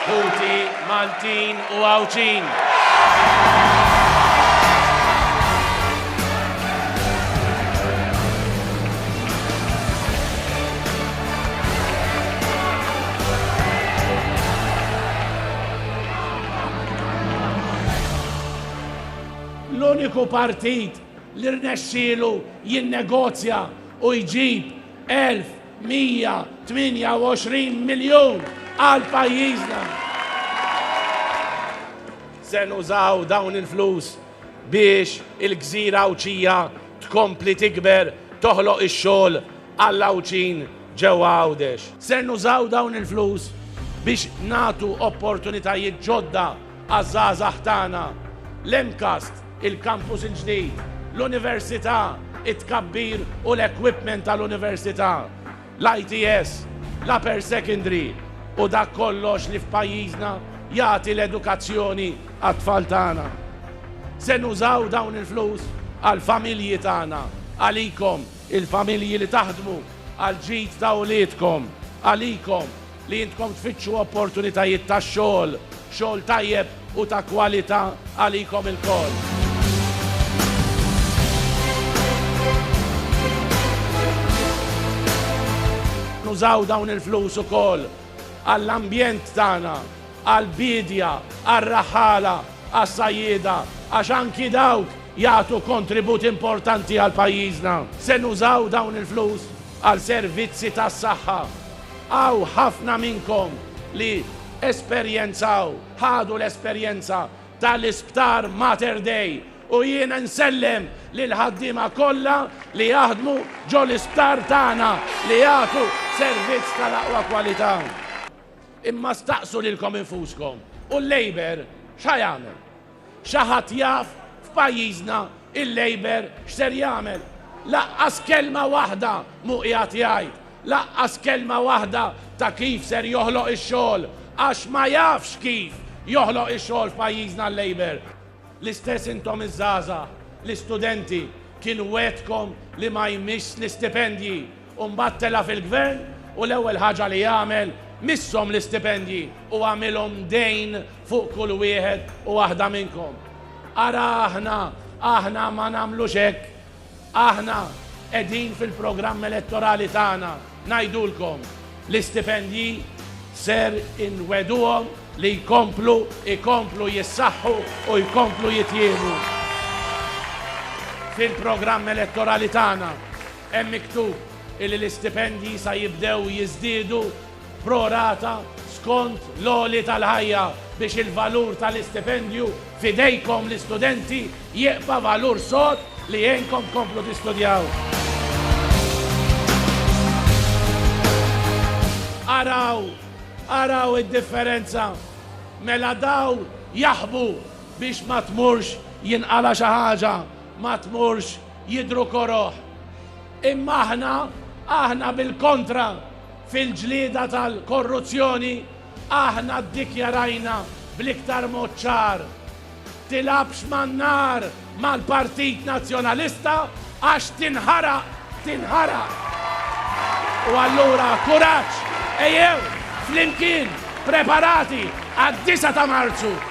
Ħuti Maltin u Għawdxin. l-uniku partit li rnexxielu jinnegozja u jġib 1000 128 miljun għal pajjiżna. Se nużaw dawn il-flus biex il-gżira Għawdxija tkompli tikber, toħloq ix-xogħol għall-Għawdxin ġewwa Għawdex. Se nużaw dawn il-flus biex nagħtu opportunitajiet ġodda Għaż-żgħażagħ tagħna, l-MCAST, il-kampus il-ġdid, l-Università, it-tkabbir u l-equipment tal-Università, l-ITS, l-Upper Secondary u dak kollox li f'pajjiżna jagħti l-edukazzjoni għat-tfal tagħna. Se nużaw dawn il-flus għall-familji tagħna, għalikom, il-familji li taħdmu għall-ġid ta' uliedkom, għalikom, Li intkom tfittxu opportunitajiet ta' xogħol, xogħol tajjeb u ta' kwalità għalikom ilkoll. Nużaw dawn il-flus ukoll għall-ambjent tagħna, għall-biedja, għar-raħħala, għas-sajjieda, għax anki dawk jagħtu kontribut importanti għal pajjiżna. Se nużaw dawn il-flus għal servizzi tas-saħħa. Hawn ħafna minnkom li esperjenzaw, ħadu l-esperjenza tal-Isptar Mater Dei u jien insellem lill-ħaddiema kollha li jaħdmu ġo l-isptar tagħna li jagħtu servizz tal-aqwa kwalità. Imma staqsu lilkom infuskom, u l-Labour x'ħa jagħmel? Xi ħadd jaf f'pajjiżna il-Labour x'ser jagħmel? Laqqas kelma waħda mhu qiegħed jgħid, laqqas kelma waħda ta' kif ser joħloq ix-xogħol, għax ma jafx kif joħloq ix-xogħol f'pajjiżna l-Labour. L-istess intom iż-żgħażagħ, l-istudenti, kien wegħdkom li ma jmissx l-istipendji. u mbagħad tela' fil-Gvern u l-ewwel ħaġa li għamel misshom l-istipendji u għamilhom dejn fuq kull wieħed u waħda minnkom. Ara aħna, aħna ma nagħmlux hekk. Aħna qegħdin fil-programm elettorali tagħna ngħidulkom l-istipendji ser inwegħduhom li jkomplu, ikomplu jissaħħu u jkomplu jitjiebu fil-programm elettorali tagħna. Hemm miktub illi l-istipendji sa jibdew jiżdiedu pro rata skont l-għoli tal-ħajja biex il-valur tal-istipendju f'idejkom l-istudenti jieqfa' valur sod li jgħinkom tkomplu tistudjaw. Araw, araw id-differenza! Mela daw jaħbu biex ma tmurx jinqala' xi ħaġa, ma tmurx. Jidhru koroh. Imma aħna, aħna bil-kontra, fil-ġlieda tal-korruzzjoni, aħna ddikjarajna bl-iktar mod ċar, Tilgħabx man-nar mal-Partit Nazzjonalista għax tinħaraq, tinħaraq! U allura kuraġġ, ejjew flimkien preparati għad-disgħa ta' Marzu!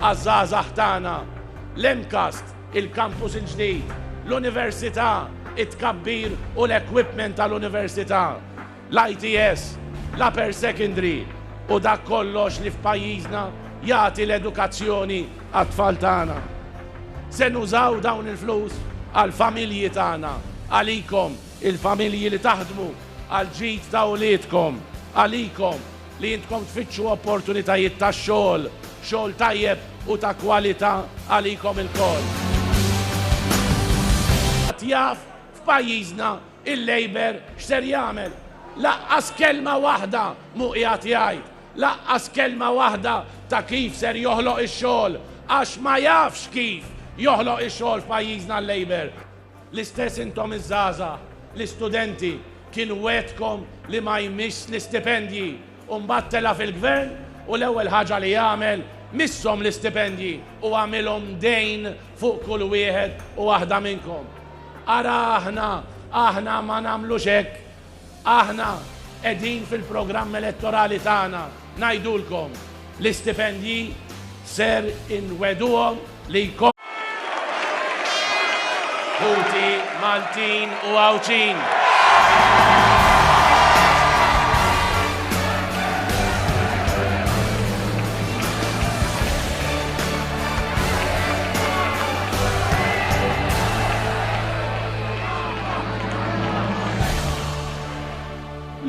għaż-żgħażagħ tagħna, l-MCAST, il-kampus il-ġdid, l-Università, it-tkabbir u l-equipment tal-Università, l-ITS, l-Upper Secondary u dak kollox li f'pajjiżna jagħti l-edukazzjoni għat-tfal tagħna. Se nużaw dawn il-flus għall-familji tagħna, għalikom, il-familji li taħdmu, għall-ġid ta' uliedkom, għalikom, Li intkom tfittxu opportunitajiet ta' xogħol, xogħol tajjeb u ta' kwalità għalikom ilkoll. Ħadd jaf f'pajjiżna il-Labour x'ser jagħmel. Lanqas kelma waħda mhu qiegħed jgħid. Lanqas kelma waħda ta' kif ser joħloq ix-xogħol, għax ma jafx kif joħloq ix-xogħol f'pajjiżna l-Labour. L-istess intom iż-żgħażagħ, l-istudenti, kien wegħdkom li ma jmissx l-istipendji u mbagħad tela' fil-Gvern u l-ewwel ħaġa li għamel misshom l-istipendji u għamilhom dejn fuq kull wieħed u waħda minnkom. Ara aħna, aħna ma nagħmlux hekk Aħna qegħdin fil-programm elettorali tagħna ngħidulkom l-istipendji ser inwegħduhom li jkollkom ħuti Maltin u Għawdxin.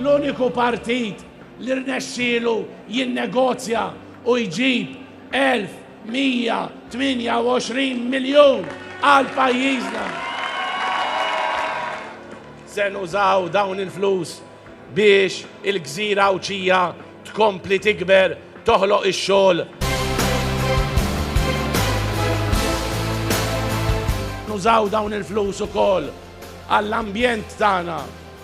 L-uniku partit li rnexxielu jinnegozja u jġib 1,128 miljun għal pajjiżna. Se nużaw dawn il-flus biex il-gżira Għawdxija tkompli tikber, toħloq ix-xogħol, nużaw dawn il-flus ukoll għall-ambjent tagħna,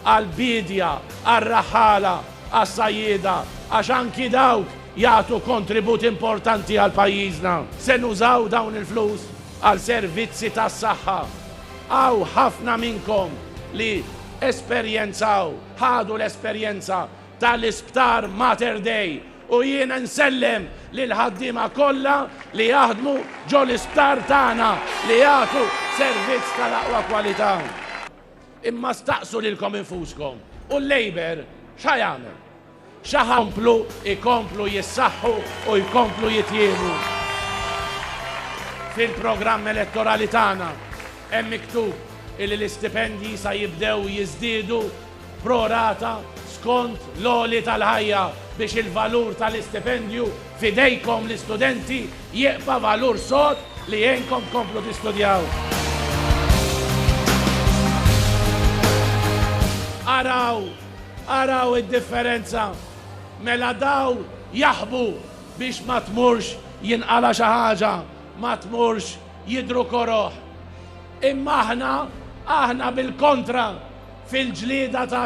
għall-biedja, għar-raħħala, għas-sajjieda għax anki dawk jagħtu kontribut importanti għal pajjiżna. Se nużaw dawn il-flus għal servizzi tas-saħħa, Hawn ħafna minnkom li esperjenzaw, ħadu l-esperjenza tal-Isptar Mater Dei u jien insellem lill-ħaddiema kollha li jaħdmu ġo l-isptar tagħna li jagħtu servizz tal-aqwa kwalità. Imma staqsu lilkom infuskom, u l-Labour x'ħa jagħmel? Jkomplu, jkomplu jissaħħu u jkomplu jitjiebu. Fil-programm elettorali tagħna hemm miktub illi l-istipendji sa jibdew jiżdiedu pro rata skont l-għoli tal-ħajja biex il-valur tal-istipendju f'idejkom l-istudenti jibqa' valur sod li jgħinkom tkomplu tistudjaw. Araw! Araw id-differenza! Mela daw jaħbu biex ma tmurx jinqala' xi ħaġa, ma tmurx jidhru koroh. Imma aħna, aħna bil-kontra, fil-ġlieda ta'